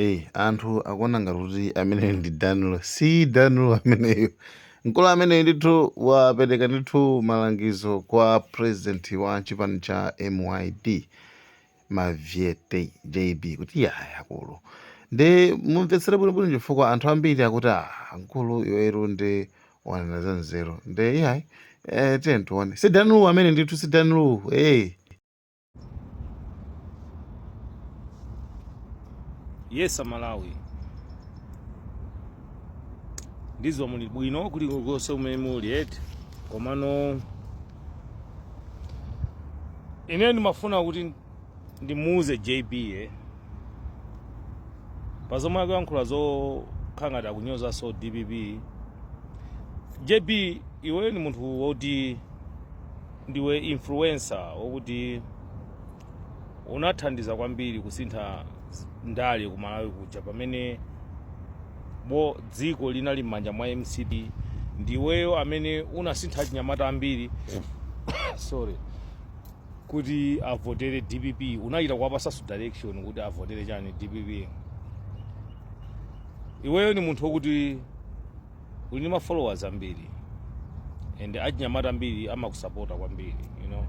Eyi anthu akuona ngati kuti ameneyo ndi Dan Lu si Dan Lu ameneyo mkulu ameneyo ndithu wapereka ndithu malangizo kwa president wa chipani cha MYD Mavyete JB kuti iyayi akulu nde mumvetsere bwinobwino chifukwa anthu ambiri akuti ah mkulu iweru ndi wanena za nzeru nde iyayi eh, tiye tione si Dan Lu amene ndithu si Dan Lu eh. yes amalawi ndidziwa muli bwino kuli konse kumene muli eti komano ine ndimafuna kuti ndimuuze jb e pa zomwe akuyankhula zokhala ngati akunyozanso dpp jb iwe ni munthu woti ndiwe influencer wokuti unathandiza kwambiri kusintha s- ndale ku malawi kuja pamene bo dziko linali m'manja mwa mcp ndiweyo amene unasintha achinyamata ambiri sorry kuti avotere dpp unachita kuwapasanso direction kuti avotere chani dpp iweyo ni munthu wokuti uli ndi ma followers ambiri and achinyamata ambiri amakusapota kwambiri you know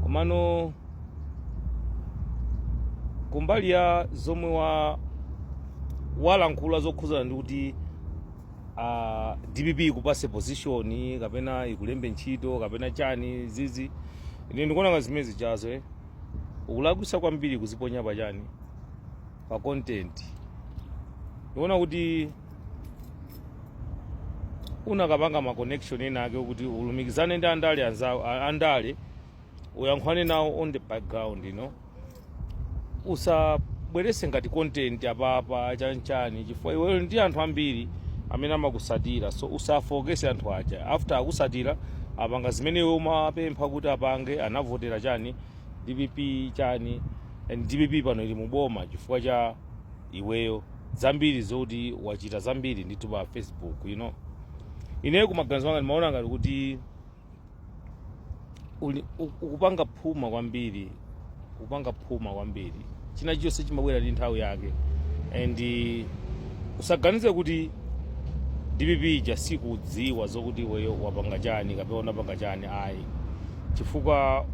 komano kumbali ya zomwe wa walankhula zokhuzana ndi kuti uh, dpp ikupase position kapena ikulembe ntchito kapena chani zizi ine ndikuona ngati zimenezi chazo eh? ukulakwisa kwambiri kuziponya pa chani pa content ndiona kuti unakapanga ma connection ena ake kuti ulumikizane ndi andale a- andale uyankhwane nawo on the background you know usabwerese ngati content apapa chanchani chifukwa iweyo ndi anthu ambiri amene amakusatira so usafookese anthu aja after akusatira apanga zimene iwe umapempha kuti apange anavotera chani dpp chani and dpp pano ili muboma chifukwa cha iweyo zambiri zoti wachita zambiri ndithu pa facebook you know ineyo kumaganizo anga ndimaona ngati kuti uli- u- ukupanga phuma kwambiri ukupanga phuma kwambiri chinachonse chimabwera ndi nthawi yake and usaganize kuti dpp ija sikudziwa zokuti iweyo wapanga chani kapena unapanga chani ayi chifukwa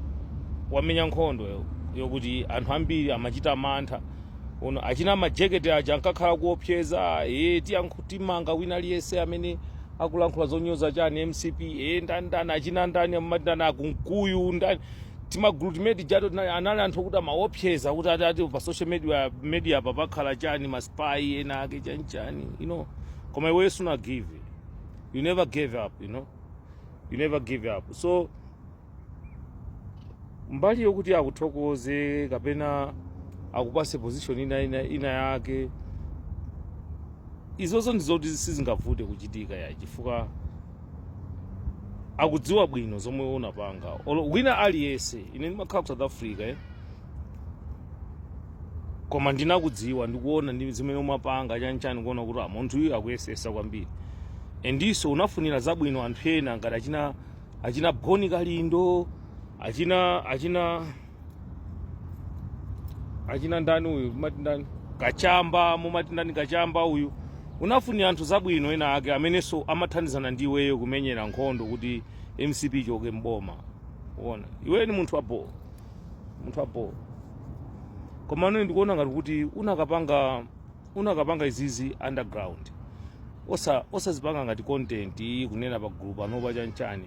wamenya nkhondo yokuti anthu ambiri amachita mantha you know achina majeketi aja ankakhala kuopseza e timanga wina aliyense amene akulankhula zonyoza chani mcp e ndani ndani achina ndani amati ndani a kunkuyu ndani timagulu timene tijato tinali anali anthu okuti amaopseza kuti ati ati pa social media media apa papakhala chani ma spy ena ake chani chani you know koma iwe suna give you never gave up you know you never give up so mbali yokuti akuthokoze kapena akupase position ina ina, ina yake izozo ndizoti sizingavute kuchitika ya chifukwa akudziwa bwino zomwe unapanga olo wina aliyense ine ndimakhala ku south africa eh? koma ndinakudziwa ndikuona ndi zimene umapanga chanchani kuona kuti ah, munthu uyu akuyesesa kwambiri endiso unafunira zabwino anthu ena ngati achina achina boni kalindo achina achina achina ndani uyu mumati ndani kachamba mumati ndani kachamba uyu unafunira anthu zabwino ena ake amenenso amathandizana ndi iweyo kumenyera nkhondo kuti mcp ichoke mboma waona iweyo ni munthu waboo munthu waboo koma ine ndikuona ngati kuti unakapanga unakapanga izizi underground osa osazipanga ngati content kunena pa group panopa chanchani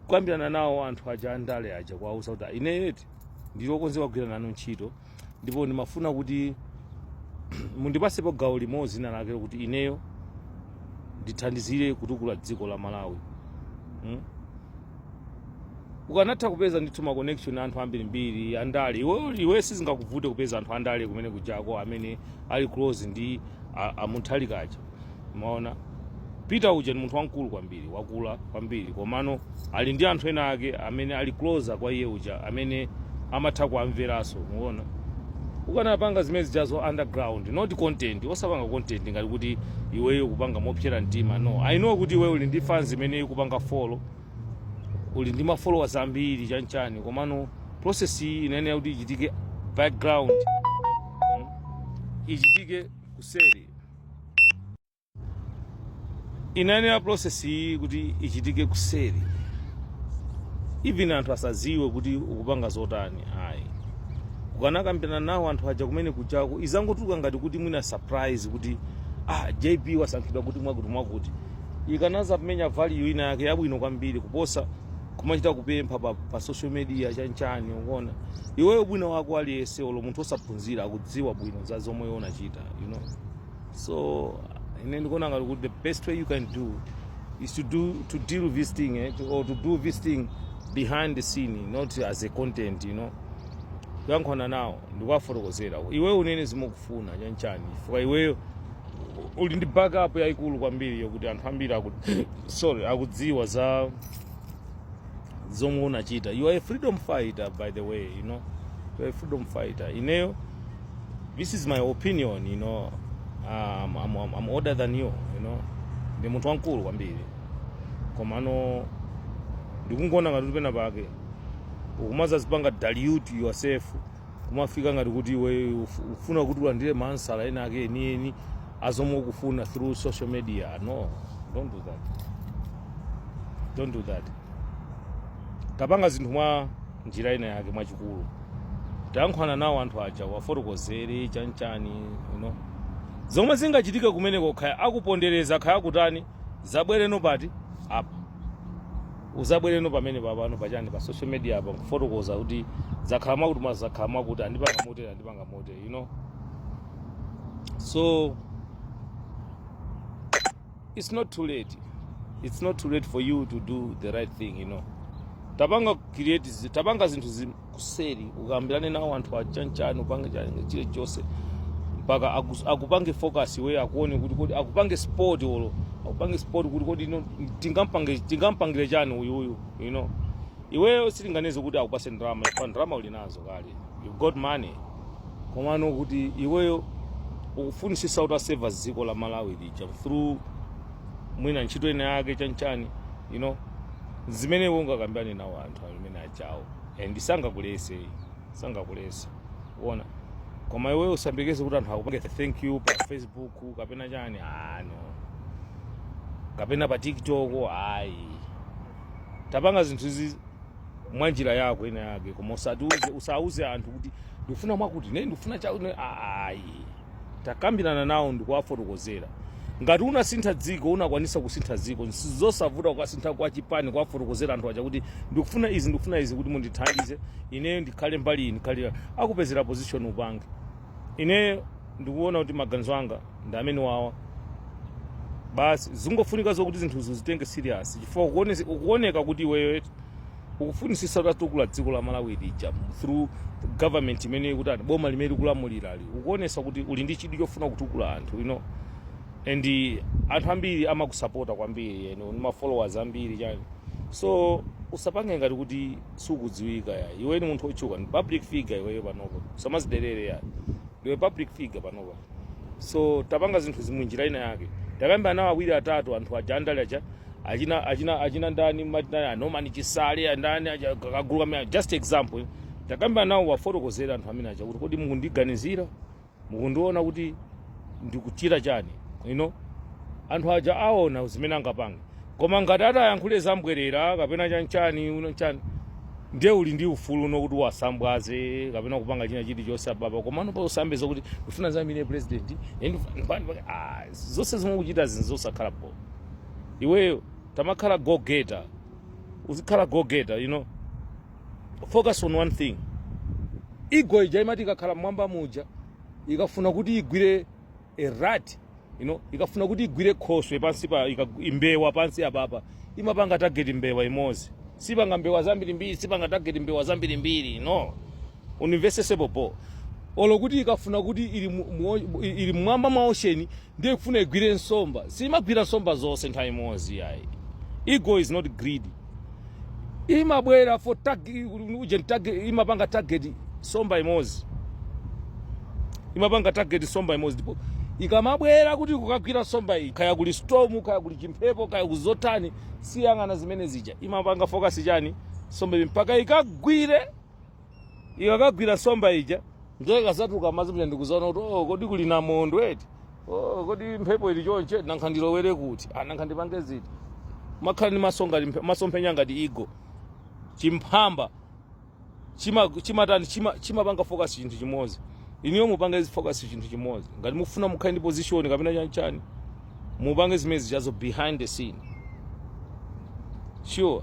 kukambirana nawo anthu aja andale aja kuwauza kuti ineyo eti ndili okonzeka kugwira nanu ntchito ndipo ndimafuna kuti mundipasepo gawo limodzi lina lake kuti ineyo ndithandizire kutukula dziko la malawi mm? ukanatha kupeza ndithu ma connection a anthu ambirimbiri andale iwe iwe sizingakuvute kupeza anthu andale kumene kujako amene ali close ndi a- a Muthalika aja umaona peter uja ni munthu wamkulu kwambiri wakula kwambiri komano ali ndi anthu ena ake amene ali closer kwa iyeuja amene amatha kuamveranso waona ukanapanga zimene zijazo underground not content osapanga content ngati kuti iweyo kupanga mopsera mtima no i know kuti iweyo uli ndi fans imene ikupanga follow uli ndi mafollowers ambiri chanchani komano process iyi inayenera kuti ichitike background mm, ichitike kuseri inayenera process iyi kuti ichitike kuseri even anthu asaziwe kuti ukupanga zotani ayi ukanakambirana nawo anthu aja kumene kujako izangotulukira ngati kuti mwina surprise kuti ah, jp wasankhidwa kuti mwakuti mwakuti ikanaza kumenya value ina yake yabwino kwambiri kuposa kumachita kupempha pa, pa social media chanchani ukuona iweyo mwina wako aliyense olo munthu osaphunzira akudziwa bwino za zomwe unachita you know so ine ndikuona ngati kuti the best way you can do is to do to deal with this thing eh, to, or to do this thing behind the scene not as a content you know kuyankhulana nawo ndikuwafotokozera iweyo unene zimene ukufuna chanchani chifukwa iweyo uli ndi backup yayikulu kwambiri yokuti anthu ambiri aku, sorry akudziwa za zomwe unachita you are a freedom fighter by the way you know you are a freedom fighter ineyo this is my opinion you know um, I'm, I'm, I'm older than you you know ndi munthu wamkulu kwambiri komano ndikungowona ngati pena pake ukumazazipanga dilute yourself kumafika ngati kuti iwe uf- ufuna kuti ulandire maansala ena ake enieni azomwe ukufuna through social media no don't do that don't do that tapanga zinthu mwa njira ina yake mwachikulu tayankhwana nawo anthu aja uwafotokozere chanchani you know. zomwe zingachitike kumeneko khaya akupondereza khaya akutani uzabwereno pati apa Uzabwereno pamenepa pano pa chani pa social media apa nkufotokoza kuti zakhala mwakuti mwa zakhala mwakuti andipanga motere andipanga motere you know so it's not too late it's not too late for you to do the right thing you know tapanga create zi- tapanga zinthu zi- kuseri ukambirane nawo anthu achanchani upange chani chilichonse mpaka akus- akupange focus iwe akuone kuti kodi akupange support olo akupange support kuti kodi ino tingampange tingampangire chani uyu uyu you know iweyo sindikuganiza kuti akupase ndalama chifukwa ndalama uli nazo kale you got money komano kuti iweyo ukufunisisa kuti utaseva dziko la malawi lija through mwina ntchito ina yake chanchani you know zimene iwe ungakambirane nawo anthu amene chawo and sangakulese ayi sangakulese uona koma iweyo usambekeze kuti anthu akupange thank you pa facebook kapena chani no kapena pa tiktok ayi tapanga zinthu izi mwa njira yako ina yake koma usatiuze usauze anthu kuti ndikufuna mwakuti ne ndikufuna chakuti ayi Takambirana nawo ndikuwafotokozera. Ngati unasintha dziko unakwanisa kusintha dziko nchosavuta kukasintha kwa chipani kuwafotokozera anthu aja kuti ndikufuna izi ndikufuna izi kuti mundithandize ineyo ndikhale mbali iyi ndikhale ya-" akupezera position upange. Ineyo ndikuona kuti maganizo anga ndi amenewawa basi zingofunika zokuti zinthuzo zitenge serious chifukwa ukuone- ukuoneka kuti iweyo eti ukufunisisa utatukula dziko la malawi lija through government imene kuti ati boma limene likulamulirali ukuonesa kuti uli ndi chidwi chofuna kutukula anthu you know and anthu ambiri amakusapota kwambiri you know, ndi ma followers ambiri chani so usapange ngati kuti sukudziwika ya iwe ni munthu otchuka ndi public figure iweyo panopa usamaziderere ya ndiwe public figure panopa so tapanga zinthu izi mwa njira ina yake takamba nawo awiri atatu anthu aja andale aja achina achina achina ndani amatina a Norman Chisale andani aja kagulu kamene just example takamba nawo wafotokozera anthu amene aja kuti kodi mukundiganizira mukundiona kuti ndikuchita chani you know anthu aja aona zimene angapange koma ngati atayankhule zambwerera kapena chanchani uno chani ndiye uli ndi ufulu uno kuti wasambwaze kapena kupanga china chilichonse ababa komano pa usakambe zokuti ndifuna ndizaimire president and- and- ah, zonse zomwe ukuchita zinthu zosakhala bwino iweyo tamakhala go getter uzikhala go getter you know focus on one thing eagle ija imati ikakhala mmwamba muja ikafuna kuti igwire a rat you know ikafuna kuti igwire khoswe pansi pa ika- imbewa pansi apapa imapanga target mbewa imodzi sipanga mbewa zambirimbiri sipanga target mbewa zambirimbiri no unimvesese bhobho olo kuti ikafuna kuti ili mu- mu- ili mmwamba mwa ocean ndiye ikufuna igwire nsomba siimagwira nsomba zonse nthawi imodzi iyayi eagle is not greedy imabwera for target uje target imapanga target somba imodzi imapanga target somba imodzi ndipo ikamabwera kuti kukagwira somba iyi kaya kuli storm kaya kuli chimphepo kaya kuzotani siyang'ana zimene zija imapanga focus chani somba iyi mpaka ikagwire ikakagwira nsomba ija ndiye ikazatuluka m'madzi muja ndikuzaona kuti oh, kodi kuli namondwe eti oh, kodi mphepo ili chonche eti nankha ndilowere kuti ah, nankha ndipange ziti muzikhala ndi maso ngati mphe- masomphenya ngati eagle chimphamba chima chimatani chima chimapanga focus chinthu chimodzi inuyo mupange focus chinthu chimodzi ngati mufuna mukhale ndi position kapena chanchani mupange zimene zijazo behind the scene sure